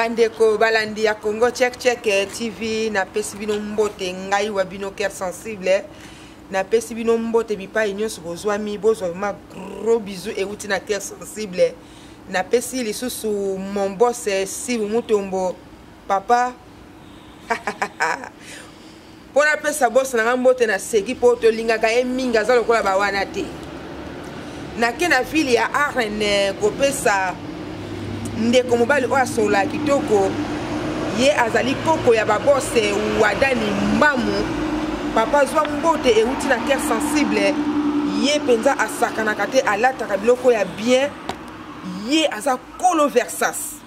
bandeko balandi ya congo check check eh, tv napesi bino mbote ngai wa bino cœur sensible eh. napesi bino mbote bipai nyonso bozwami bozwa ma gros bisou euti na cœur sensible eh. napesi lisusu mon boss sibu mutombo papa mpo napesa bosi na ngai mbote naseki mpo tolingaka ye mingi aza lokola bawana te nake na ville ya arn eh, kopesa ndeko mobali oyo asolola kitoko ye azali koko ya babose eh, wadani mbamu papa zwa mbote euti na cœur sensible ye mpenza asakanaka te alataka biloko ya bien ye aza kolo versas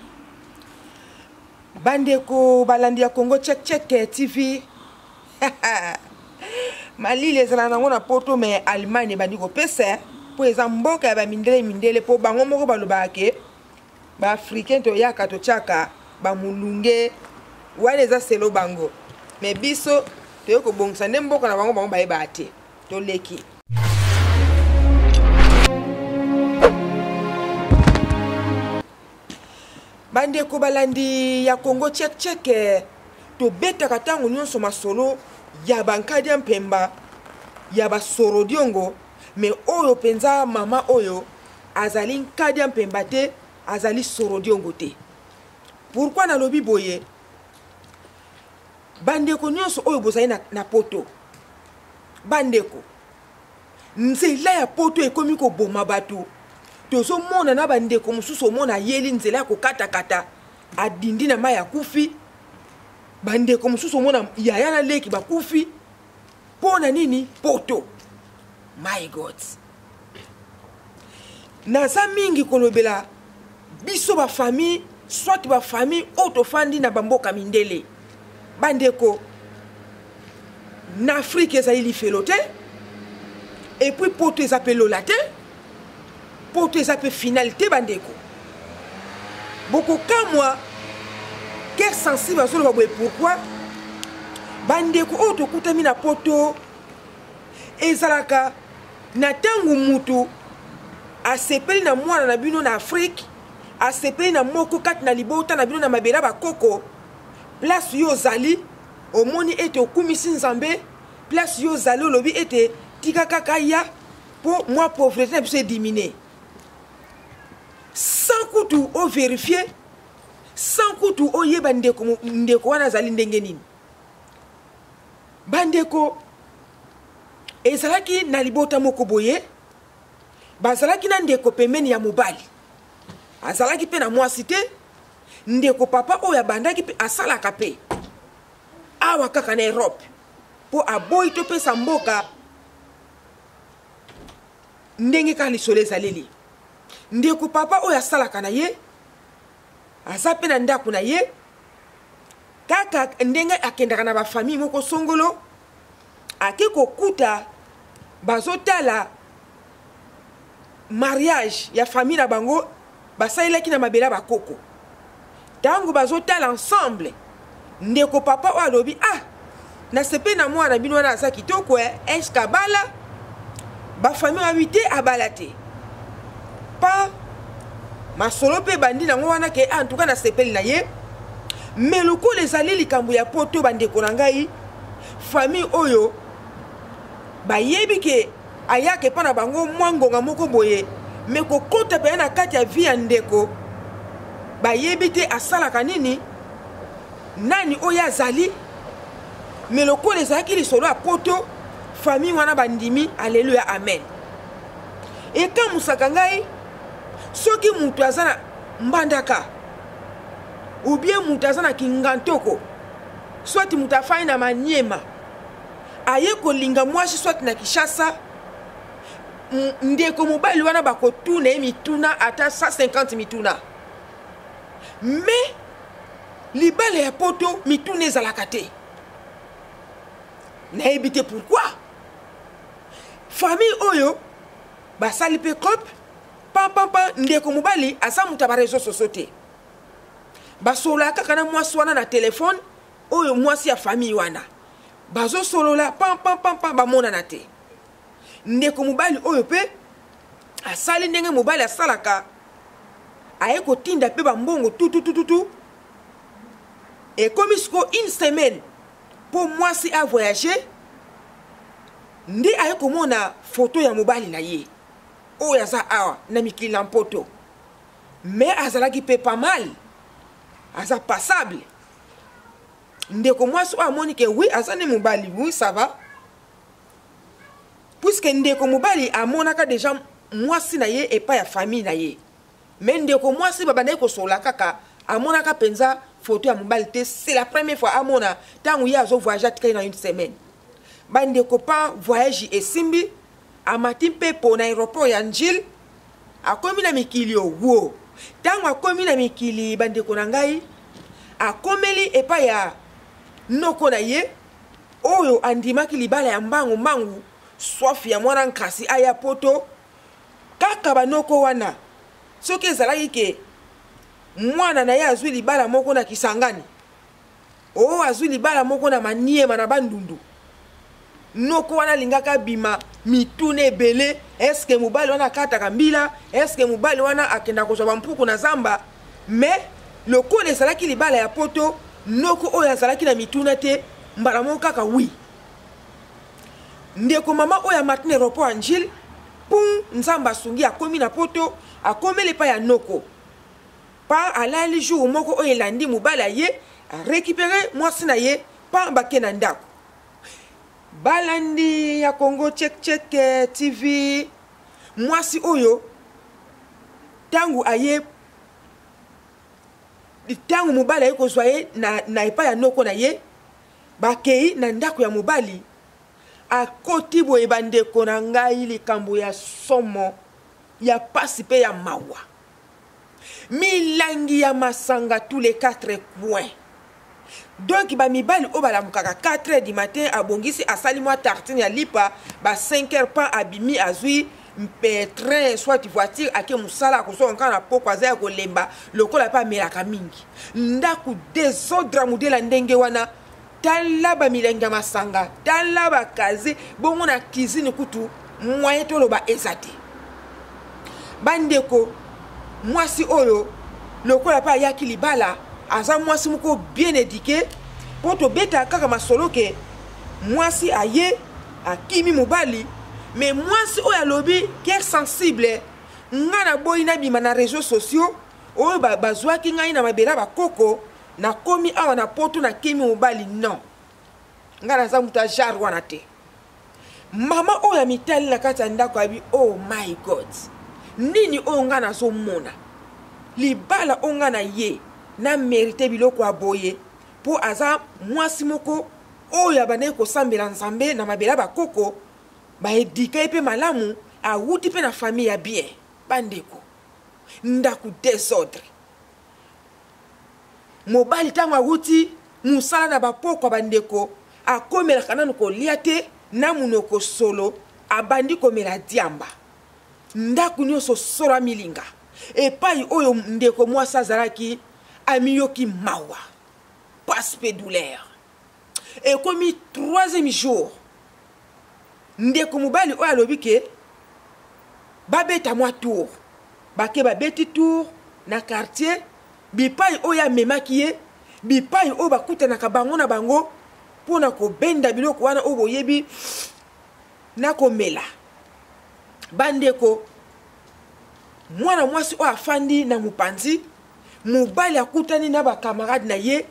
bandeko balandi ya congo check check tv malili ezala nango na poto me allemagne ebandi kopesa mpo eza mboka ya bamindele mindele mpo bango moko balobaka ke baafricain toyaka totyaka bamulunge wana eza selo bango me biso toyei kobongisa nde mboka na bango bango bayebaka te toleki bandeko balandi ya congo tchekcheke tobetaka ntango nyonso masolo ya bankadi ya mpemba ya basoro diongo me oyo mpenza mama oyo azali nkadi ya mpemba te azali soro diongo te pourkui nalobi boye bandeko nyonso oyo bozali na, na poto bandeko nzela ya poto ekomi koboma bato tozomona na bandeko mosusu omona ayeli nzela ya kokatakata adindi na mai akufi bandeko mosusu omona yaya na leki bakufi mpo na nini poto my god naza mingi kolobela biso ba famille soit ba famille oyo tofandi na bamboka mindele bandeko na afrike ezali lifelo te epuis poto eza mpe lola te poto eza mpe finale te bandeko bokokamwa cœur sensible azoloba boye pourquoi bandeko oyo tokutami na poto ezalaka na ntango motu asepeli na mwana na bino na afrike asepeli na moko kati na libota na bino na mabele ya bakoko place yo ozali omoni ete okumisi nzambe place yo ozali olobi ete tika kaka ya mpo mwa pauvrete na biso edimine sans kutu overifie sans kutu oyeba ndeko, ndeko wana azali ndenge nini bandeko ezalaki na libota moko boye bazalaki na ndeko pembeni ya mobali azalaki mpe na mwasi te ndeko papa oyo abandaki mpe asalaka mpe awa kaka na europe mpo aboyi topesa mboka ndenge kaka lisolo ezaleli ndeko papa oyo asalaka na ye aza mpe na ndako na ye kaka ndenge akendaka na bafamille moko songolo ake kokuta bazotala mariage ya famille na bango basalelaki na mabele ya bakoko ntango bazotala ensemble ndeko papa oyo alobi ah nasepe na mwana na bino wana aza kitoko eh, eske abala bafamille wabi te abala te pa masolo mpe ebandi nango wana ke ah, antuka nasepeli na ye me lokola ezali likambo ya poto bandeko na ngai famille oyo bayebi ke ayaka epai na bango mwa ngonga moko boye me kokota mpenza na kati ya vi ya ndeko bayebi te asalaka nini nani oyo azali me lokola ezalaki lisolo ya poto famille wana bandimi aleluya amen ekamusaka ngai soki moto aza na mbandaka ubie moto aza na kingantoko soit moto afandi na maniema aye kolinga mwasi soit na kishasa ndeko mobali wana bakotuna ye mituna ata 150 mituna mais libala ya poto mituna ezalaka te nayebi te pourkui famille oyo basali mpe cope pampampa ndeko mobali aza moto ya bareseau soso te basololaka kaka na mwasi wana na telefone oyo mwasi ya famille wana bazosolola pampampampa bamonana te ndeko mobali oyo mpe asali ndenge mobali asalaka aye kotinda mpe bambongo tututututu ekomi sikoyo une semaine mpo mwasi avoyage nde aye komona foto ya mobali na ye oyo aza awa na mikili na mpoto me azalaki mpe pamale aza passable ndeko mwasi oyo amoni ke wi aza nde mobali wi sava puiske ndeko mobali amonaka deja mwasi na ye epai ya famille na ye me ndeko mwasi babandaki kosola kaka amonaka mpenza foto ya mobali te c'est la première fois amona ntango ye azo voyage atikali na une semaine bandeko pa voyage esimbi amati mpe mpo na aéroport ya njile akomi na mikili owo ntango akomi na mikili bandeko na ngai akomeli epai ya noko na ye oyo andimaki libala ya mbangu mbangu swafi ya mwana nkasi aya poto kaka banoko wana soki ezalaki ke mwana na ye azwi libala moko na kisangani o oh, azwi libala moko na maniema na bandundu noko wana alingaka abima mituna ebele eske mobali wana akataka mbila eske mobali wana akenda kozwa bampuku na zamba me lokola ezalaki libala ya poto noko oyo azalaki na mituna te mbala moko kaka wi ndeko mama oyo amatini aeroport angile pum nzambe asungi akomi na poto akomeli epai ya noko pa alali jour moko oyo elandi mobali aye arekipere mwasi na ye pa bake na ndako balandi ya congo chekcheke tv mwasi oyo ntango aye ntango mobali aye kozwa ye na, na epai ya noko na ye bakei na ndako ya mobali akoti boye bandeko na ngai likambo ya somo ya mpasi mpe ya mawa milangi ya masanga tous les quatre coins donk bamibali oyo balamukaka 4 heures du matin abongisi asali mwa tartine ya lipa ba 5 heures pan abimi azwi mpe train soit voiture ake mosala akozwa kaka na poko aza ya kolemba lokola mpe amelaka mingi ndako desordre modela ndenge wana tala bamilangi ya masanga tala bakaze bongo na cuisine kutu moyen toloba eza te bandeko mwasi oyo lokola mpe ayaki libala aza mwasi moko bien édike mpo tobetaka kaka masolo ke mwasi aye akimi mobali me mwasi oyo alobi ker sensible ngai naboyi nabima na réseau sociaux oyo bazwaki ba ngai na mabela bakoko nakomi awa na poto nakimi mobali non ngai naza moto ya jare wana te mama oyo amitali na kati ya ndako abi oh my god nini oyo ngai nazomona libala oyo ngai na ye na merite biloko ya boye mpo aza mwasi moko oyo abandaki kosambela nzambe na mabele ya bakoko baedika ye mpe malamu awuti mpe na famille ya bien bandeko ndako desordre mobali ntango awuti mosala na bapokwa bandeko akomelaka nanu kolia te na monoko solo abandi komela diamba ndako nyonso solo amilinga epai oyo ndeko mwasi azalaki amiyoki mawa pasi mpe douleur ekomi troisième jour ndeko mobali oyo alobi ke babeta mwa tour bake babeti tour na quartier bipai oyo amemaki ye bipai oyo bakutanaka bango na bango mpo na kobenda biloko wana oyo boyebi na komela bandeko mwana mwasi oyo afandi na mopanzi mobali akutani na bakamarade na ye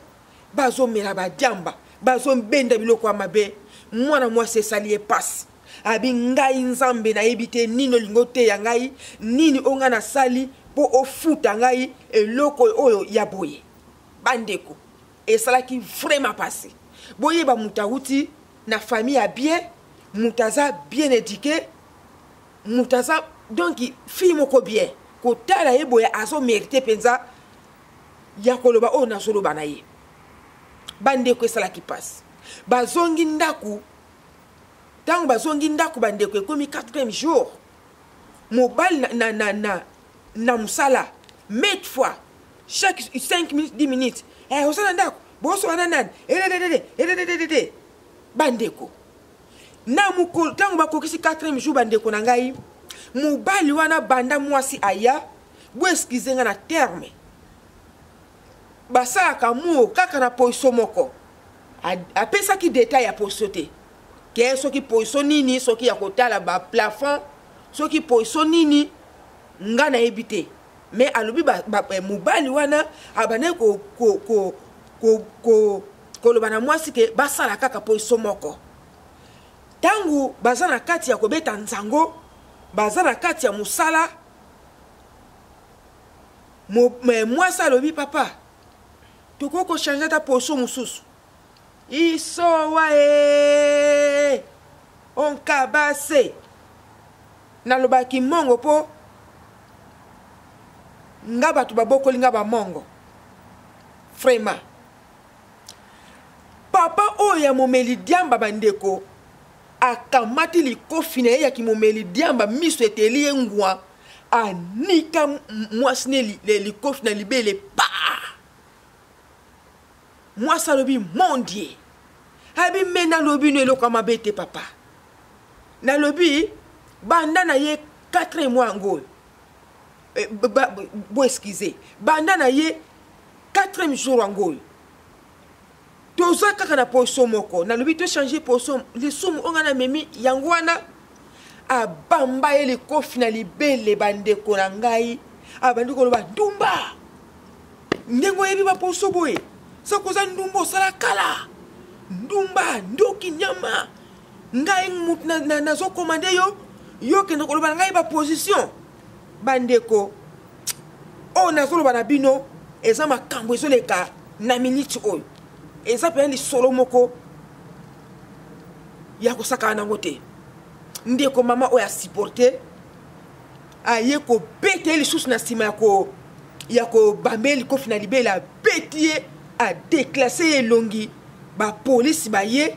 bazomela badiamba bazombenda biloko ya mabe mwana mwasi esali ye mpasi abi ngai nzambe nayebi te nini olingi oteya ngai nini oyo ngai nasali mpo ofuta ngai eloko oyo ya boye bandeko esalaki vraimen mpasi boyeba moto awuti na famille ya bien moto aza bien éduqué moto aza donk fille moko bien kotala ye boye azomerite mpenza ya koloba oyo nazoloba na ye bandeko esalaki mpasi bazongi ndako ntango bazongi ndako bandeko ekomi 4 jour mobali na, na, na, na, na mosala mate fois chaque 5 minutes 10 minutes hey, eh, osala ndako bosoba na nani edededede edededede bandeko na mokolo ntango bakokisi 4 jour bandeko na ngai mobali wana banda mwasi aya Bo excuse nga na terme. Basalaka amour kaka na poiso moko. Apesaki detail ya poiso te. Ke soki poiso nini, soki ya kotala ba plafond, soki poiso nini, nga nayebi te. Mais alobi ba, ba, eh, mobali wana abandaki ko ko ko ko, ko koloba na mwasi ke basala kaka poiso moko. Tango baza na kati ya kobeta nzango, baza na kati ya mosala mwasi alobi papa tokoki kochange ata poso mosusu isowa e onkabase nalobaki mongo mpo nga bato babokoli nga bamongo vraiment papa oyo ya momeli diamba bandeko akamati likofi na ye ya kimomeli diamba miso eteli ye ngwa anika mwasi ne li, li, likofi na libele pa mwasi alobi mondie abi me nalobi no eloko ya mabe te papa nalobi banda na ye 4 mois yango oyo eh, bo excuse banda na ye 4 jour yango oyo toza kaka na poso moko nalobi to change poso lisumu oyo ngai namemi yango wana abamba ye likofi na libele bandeko na ngai abandi koloba ndumba ndenge oyebi baposo boye soko oza ndumba osala kala ndumba ndoki nyama ngai nazokoma nde yo yo okende koloba na ngai baposition bandeko oyo nazoloba na bino eza makambo ezoleka na miniti oyo eza mpenza lisolo moko ya kosakana nango te ndeko mama oyo asiporte aye kobeta ye lisusu na nsima ya ko ya kobamba ye likofi na libele abeti ye adeklase ye elongi bapolisi baye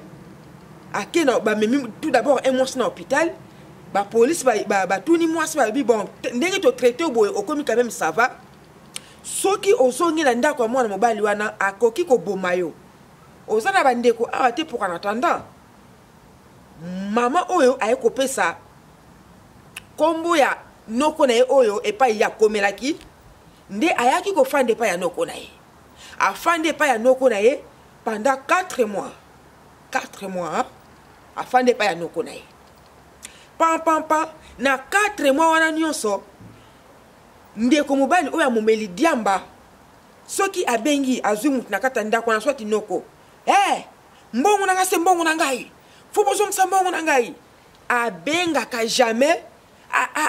ake na bamemi tout d'abord un mwasi na hôpital ba police ba, ba, ba tuni mwasi ba bi bon ndenge to traité boye okomi quand même ça va soki ozongi na ndako ya mwana mobali wana akoki koboma yo oza na bandeko awa te pour en attendant mama oyo aye kopesa nkombo ya noko na ye oyo epai ye akomelaki nde ayaki kofanda epai ya noko na ye afandi epai ya noko na ye pendant 4 mois 4 mois afandi epai ya noko na ye pampampa na 4 mwa wana nyonso ndeko mobali oyo amomeli diamba soki abengi azwi moto na kati ya ndako wana swati noko e eh, hey, mbongo na ngai se mbongo na ngai fo bozongisa mbongo na ngai abengaka jamais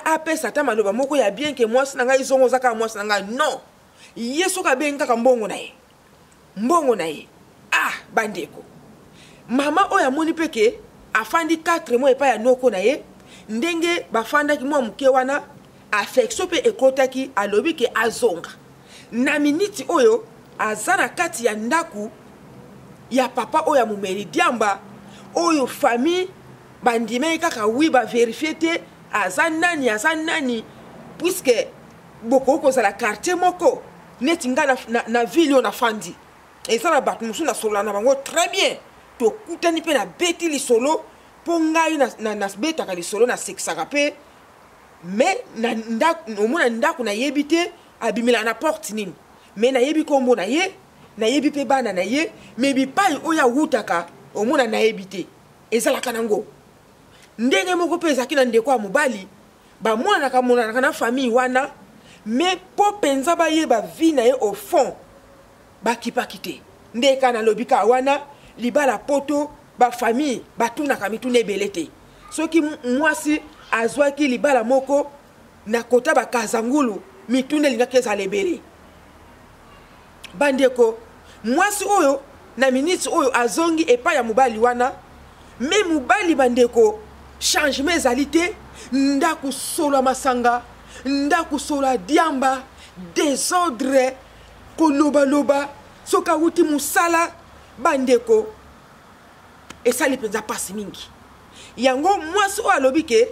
apesa ata maloba moko ya bien ke mwasi na ngai zongo oza kaka mwasi na ngai non ye soki abengi kaka mbongo na ye mbongo na ye ah bandeko mama oyo amoni mpe ke afandi 4 mois epai ya noko na ye ndenge bafandaki mwa moke wana affection mpe ekotaki alobi ke azonga na miniti oyo aza na kati ya ndako ya papa oyo ya momeli diamba oyo famille bandimaki kaka wi baverifie te aza nani aza nani puiske bokoki kozala quartier moko neti ngai na, na, na ville oyo nafandi eza na bato mosusu nasolola na bango très bien tokutani mpe nabeti lisolo mpo ngai nabetaka na, na lisolo nasekisaka mpe mais omona ndako nayebi te abimelaka na porte nini mais nayebi nkombo na ye nayebi mpe bana na ye mais bipai oyo awutaka omona nayebi te ezalaka nango ndenge moko mpe ezalaki na ndeko ya mobali bamonanaka monanaka na famille wana mais mpo mpenza bayeba vie na ye au fond bakipaki te nde ka nalobi ka wana libala poto bafamille batunaka mituna ebele te soki mwasi azwaki libala moko na kota bakazangulu mituna elingaki ezala ebele Bandeko, mwasi oyo na miniti oyo azongi epai ya mobali wana me mobali bandeko changement ezali te ndako solo ya masanga ndako solo ya diamba desordre kolobaloba soki awuti mosala bandeko esali mpenza mpasi mingi yango mwasi oyo alobi ke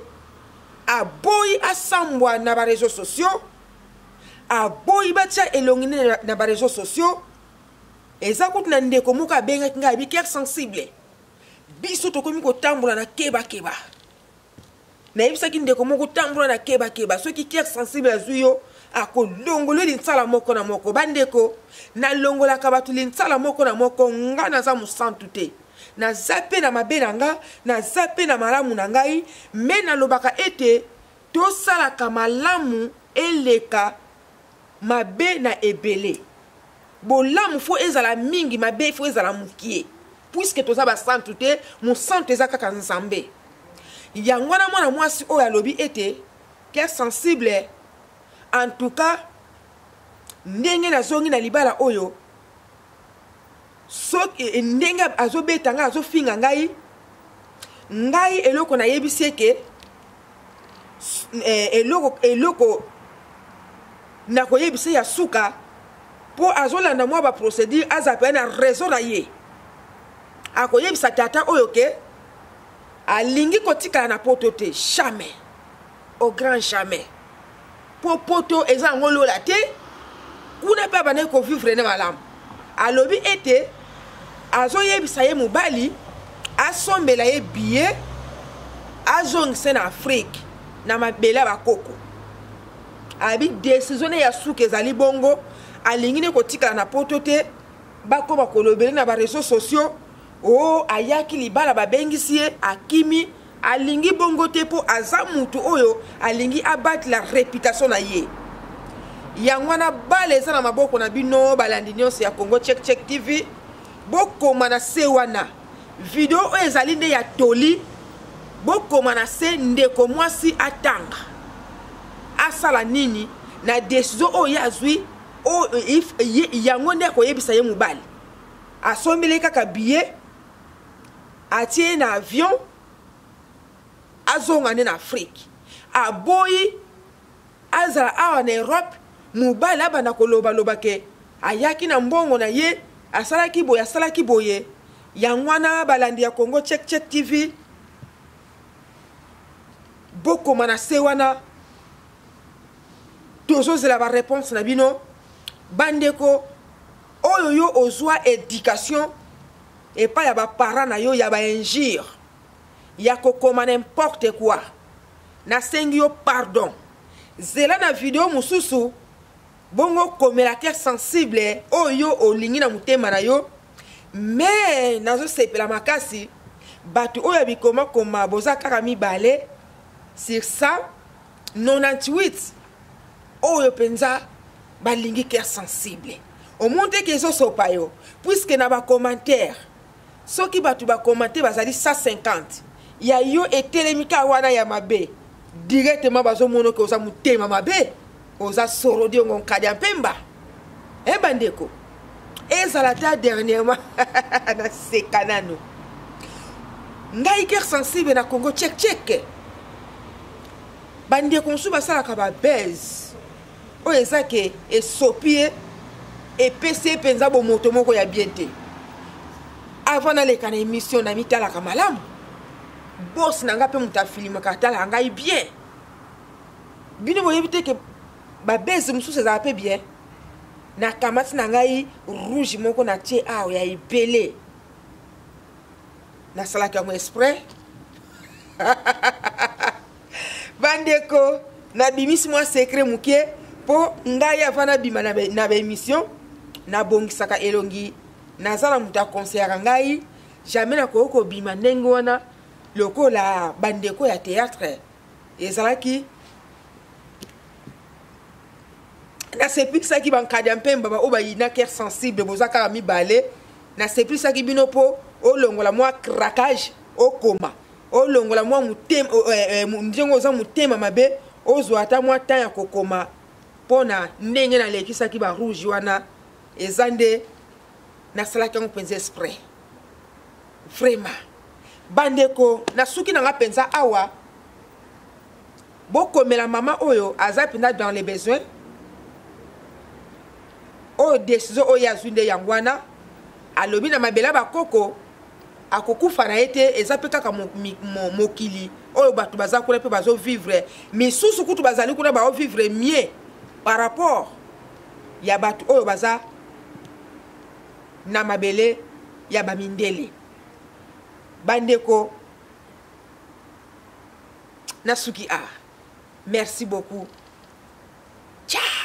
aboyi asambwa na bareseau sociaux aboyi batya elongi nde na, na bareseau sociaux eza kutu na ndeko moko abengaki ngai abi cœur sensible biso tokomi kotambola na kebakeba nayebisaki ndeko moko tambola na kebakeba soki cœur sensible azwi yo akolongolwe linsala moko na moko bandeko nalongolaka bato linsala moko na moko nga naza mosantu te naza mpe na mabe na nga naza mpe na malamu na ngai me nalobaka ete Tosalaka malamu eleka mabe na ebele. Bolamu fo ezala mingi, mabe fo ezala mukie. Puisque toza ba santu te, mosantu eza kaka Nzambe. Yango wana mwana mwasi oyo alobi ete cœur sensible en tout cas ndenge nazongi na libala oyo soki e, ndenge azobeta ngai azofinga ngai ngai eloko nayebisi eke eh, eloko eloko nakoyebisa ya suka mpo azolanda mwa baprocédure aza mpe na raison na ye akoyebisa tata oyo ke alingi kotikala na poto te jamais au grand jamais mpo poto eza yango lola te kuna mpe abandaki kovivre ne malamu alobi ete azoyebisa ye mobali asombela ye biye azongisa na afrike na mabele ya bakoko abi desizio ne ya suka ezali bongo alingi ne kotikala na poto te bakoma kolobele na bareseau sociaux Oh ayaki libala babengisi ye akimi alingi bongo te mpo aza mutu oyo alingi abatela reputation na ye yango wana bale eza na maboko na bino balandi nyonso ya congo check check tv bokoma na se wana video oyo ezali nde ya toli bokoma na se ndeko mwasi atanga asala nini na desizio oyo ye azwi yango nde akoyebisa ye mobali asombele kaka billet atie ye na avion azonga nde na afrike aboyi azala awa na europe mobali abanda kolobaloba ke ayaki na mbongo na ye asalaki boye asalaki boye yango wana balandi ya congo check check tv bokoma na se wana tozozela bareponse na bino bandeko oyo yo ozwa education epai ya baparent na yo ya bainjure ya kokoma n'importe quoi nasengi yo pardon zela na video mosusu bongo komela cœur sensible oyo olingi na motema na yo me nazosepela makasi bato oyo ya bikomakoma boza kaka mibale sur ça 98 oyo mpenza balingi cœur sensible omoni te ke ezosopa yo puiske na bacommentaire soki bato bakomante bazali 150 ya yo etelemi kaka wana ya mabe directement bazomona oke oza motema mabe oza soro diongo nkadi ya mpemba e eh, bandeko ezala ta dernièrement naseka nano ngai guerre sensible na congo check check bandeko mosusu basalaka babase oyo eza ke esopi ye epesi ye mpenza bomoto moko ya bien te avant naleka na émission namitalaka malamu bos na ngai mpe moto afilimaka atalaka ngai bien bino boyebi te ke babese mosusu ezala mpe bien nakamati na ngai rouge moko na tie awa ya ebele nasalaki yango esprit bandeko nabimisi mwa sekret moke mpo ngai ava nabima na baémission nabongisaka elongi naza na moto akonseyaka ngai jamai nakoki kobima ndenge wana lokola bandeko ya théâtre ezalaki nasepikisaki bankadi ya mpemba baoyo bayina cœur sensible boza kaka mibale nasepikisaki bino mpo olongola mwa craquage okoma olongola mwa motema eh, eh, ndenge oza motema mabe ozwa ata mwa temps ya kokoma mpo na ndenge nalekisaki barouge wana eza nde nasalaki yango mpenza esprit vraiment bandeko na suki na nga mpenza awa bokomela mama oyo aza mpenza dans les besoins oyo desizio oyo azwi nde yango wana alobi na mabele ya bakoko akokufa na ye te eza mpe kaka mokili oyo bato baza kuna mpe bazovivre misusu kutu bazali kuna baovivre mieux par rapport ya bato oyo baza na mabele ya bamindele bandeko nasuki a ah, merci beaucoup ciao